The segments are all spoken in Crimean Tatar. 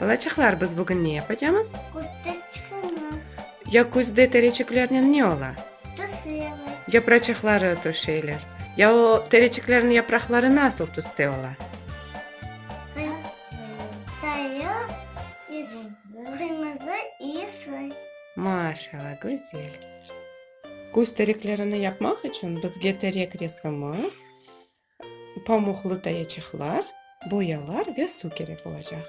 Balaçıqlar, biz bugün ne yapacamız? Küzde çıqırma. Ya küzde tereçiklernen ne ola? Tüşeler. Yapraçıqları tüşeler. Ya o tereçiklerniñ yapraqları nasıl tüste ola? Sarı, qırmızı i sır. Maşallah, güzel. Küz tereklerini yapmaq içün bizge terek resimi, Pamuqlı tayaçıqlar, boyalar ve suv kerek olacaq.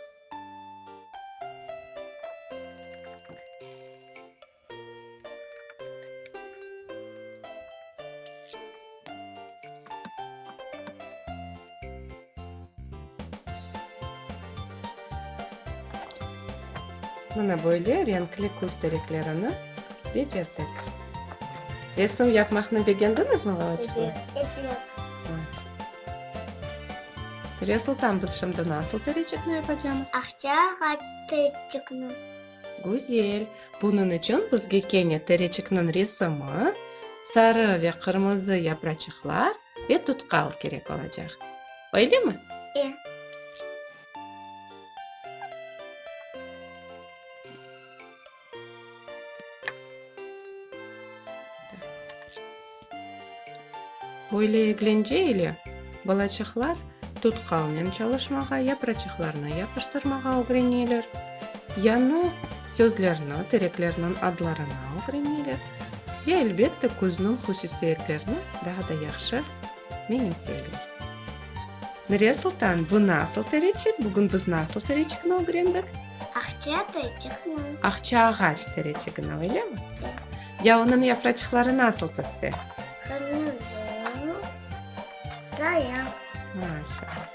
Mına böyle renkli küz tereklerini yeterdik. Resim yapmaqnı begendiñizmi, Lavochka? Resultan, biz şimdi nasıl tereçikni yapacamız? Aqça ağaç tereçikni. Güzel. Bunıñ içün bizge kene tereçikniñ resimi, sarı ve qırmızı yapraçıqlar ve tutkal kerek olacaq. Öylemi? E. Böyle eglence ile balaçaqlar tutqalnen çalışmağa, yapraçıqlarnı yapıştırmağa ögreneler, yañı sözlerni, tereklerniñ adlarını ögreneler ve, elbette, küzniñ hususiyetlerini daa da yahşı menimseyler. Nuriye sultan, bu nasıl tereçik? Bugün biz nasıl tereçikni ögrendik? Aqça tereçiqniñ. Aqça ağaç tereçiqniñ, öylemi? Hı. Ya onıñ yafraçıqları nasıl piste? Qırmızı, qaya. Maşallah.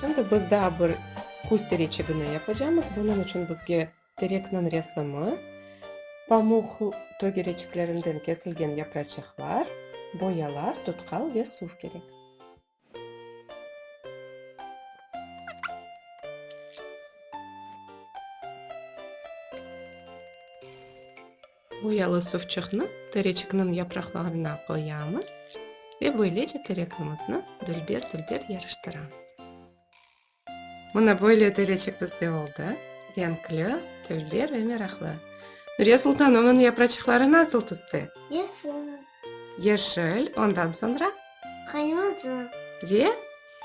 Şimdi biz daa bir kuz tereçiqni yapacamız. Bunıñ içün bizge terekniñ resimi, pamuq tögereçiklerinden kesilgen yafraçıqlar, boyalar, tutqal ve suv kerek. Boyalı suvçıqnı tereçikniñ yapraqlarına qoyamız ve böylece terekimizni dülber-dülber yarıştıramız. Mına böyle telecik bizde oldı, Renkli, tilli ve meraqlı. Nuriye Sultan, onıñ yapraçıqları nasıl tüste? Yeşil. Yeşil, ondan soñra? Qırmızı. Ve?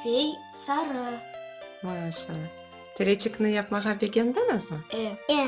Ve sarı. Maşallah. Telecikni yapmağa begendiñizmi? E. E.